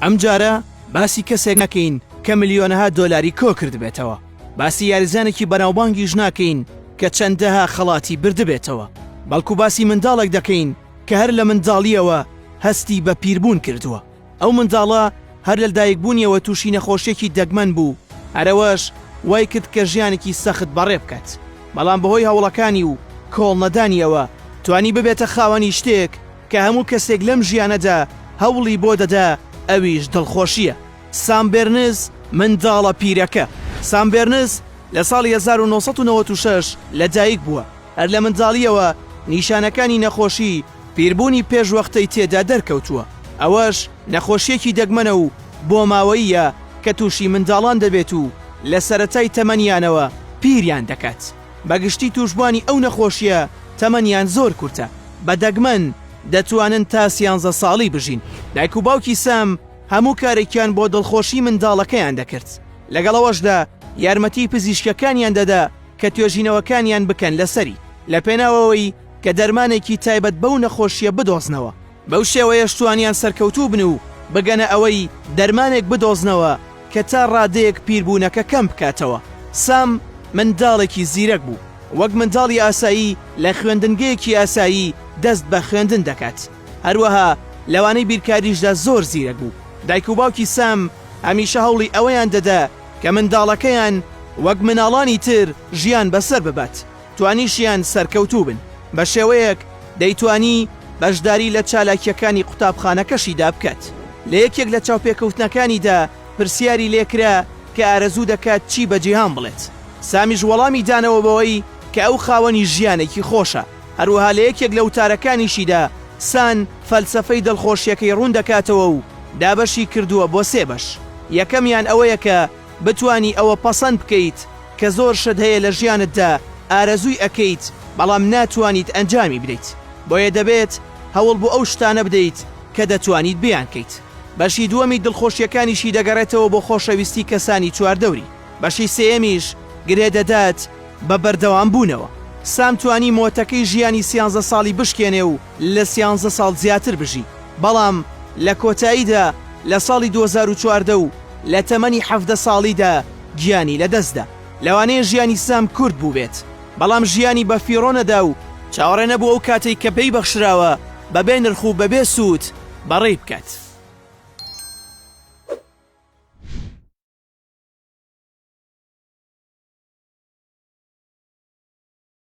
ئەم جارە باسی کەسێک ناکەین کە ملیۆنەها دۆلاری کۆکردبێتەوە، باسی یاریزانێکی بەناوبانگیش ناکەین کە چەندەها خەڵاتی بردبێتەوە، بەڵکو باسی منداڵێک دەکەین کە هەر لە منداڵییەوە هەستی بە پیربوون کردووە، ئەو منداڵە هەر لە لەدایکبوونیەوە تووشی نەخۆشییەکی دەگمەن بوو، هەر ئەوەش وایکرد کە ژیانێکی سەخت بەڕێ بکات، بەڵام بەهۆی هەوڵەکانی و کۆڵنەدانییەوە توانی ببێتە خاوەنی شتێک، کە هەموو کەسێک لەم ژیانەدا هەوڵی بۆ دەدا ئەویش دڵخۆشییە. سام بێرنز منداڵە پیرەکە سام بێرنز لە ساڵی هەزار و نۆ سەد و نەوەد و شەش لەدایک بووە، هەر لە منداڵییەوە نیشانەکانی نەخۆشی پیربوونی پێشوەختەی تێدا دەرکەوتووە، ئەوەش نەخۆشییەکی دەگمەنە و بۆماوەییە کە تووشی منداڵان دەبێت و لە سەرەتای تەمەنیانەوە پیریان دەکات. بە گشتی تووشبوانی ئەو نەخۆشییە تەمەنیان زۆر کورتە، بە دەگمەن دەتوانن تا سیانزە ساڵی بژین. دایک و باوکی سام هەموو کارێکیان بۆ دڵخۆشی منداڵەکەیان دەکرد، لەگەڵ ئەوەشدا یارمەتی پزیشکەکانیان دەدا کە توێژینەوەکانیان بکەن لەسەری، لە پێناوەوەی کە دەرمانێکی تایبەت بەو نەخۆشییە بدۆزنەوە. بەو شێوەیەش توانیان سەرکەوتوو بن و بگەنە ئەوەی دەرمانێک بدۆزنەوە کە تا ڕادەیەک پیربوونەکە کەم بکاتەوە. سام منداڵێکی زیرەک بوو. وەک منداڵی ئاسایی لە خوێندنگەیەکی ئاسایی دەست بە خوێندن دەکات. هەروەها لەوانەی بیرکاریشدا زۆر زیرەک بوو. دایک و باوکی سام هەمیشە هەوڵی ئەوەیان دەدا کە منداڵەکەیان وەک مناڵانی تر ژیان بەسەر ببات. توانیشیان سەرکەوتوو بن، بە شێوەیەک دەیتوانی بەشداری لە چالاکییەکانی قوتابخانەکەشیدا بکات. لە یەکێک لە چاوپێکەوتنەکانیدا پرسیاری لێ کرا کە ئارەزوو دەکات چی بە جیهان بڵێت، سامیش وەڵامی دانەوە بەوەی کە ئەو خاوەنی ژیانێکی خۆشە. هەروەها لە یەکێک لە وتارەکانیشیدا سان فەلسەفەی دڵخۆشییەکەی ڕوون دەکاتەوە و دابەشی کردووە بۆ سێ بەش، یەکەمیان ئەوەیە کە، بتوانی ئەوە پەسەند بکەیت کە زۆر شت هەیە لە ژیانتدا ئارەزووی ئەکەیت بەڵام ناتوانیت ئەنجامی بدەیت بۆیە دەبێت هەوڵ بۆ ئەو شتانە بدەیت کە دەتوانیت بیانکەیت بەشی دووەمی دڵخۆشیەکانیشی دەگەڕێتەوە بۆ خۆشەویستی کەسانی چواردەوری بەشی سێیەمیش گرێ دەدات بە بەردەوام بوونەوە. سام توانی مۆتەکەی ژیانی سیانزە ساڵی بشکێنێ و لە سیانزە ساڵ زیاتر بژی، بەڵام لە کۆتاییدا لە ساڵی دوو هەزار و چواردە و لە تەمەنی حەڤدە ساڵیدا گیانی لەدەستدا. لەوانەیە ژیانی سام کورت بووبێت، بەڵام ژیانی بە فیڕۆ نەدا و چاوەڕێ نەبوو ئەو کاتەی کە پێی بەخشراوە بە بێ نرخ و بە بێ سوود بەڕێی بکات.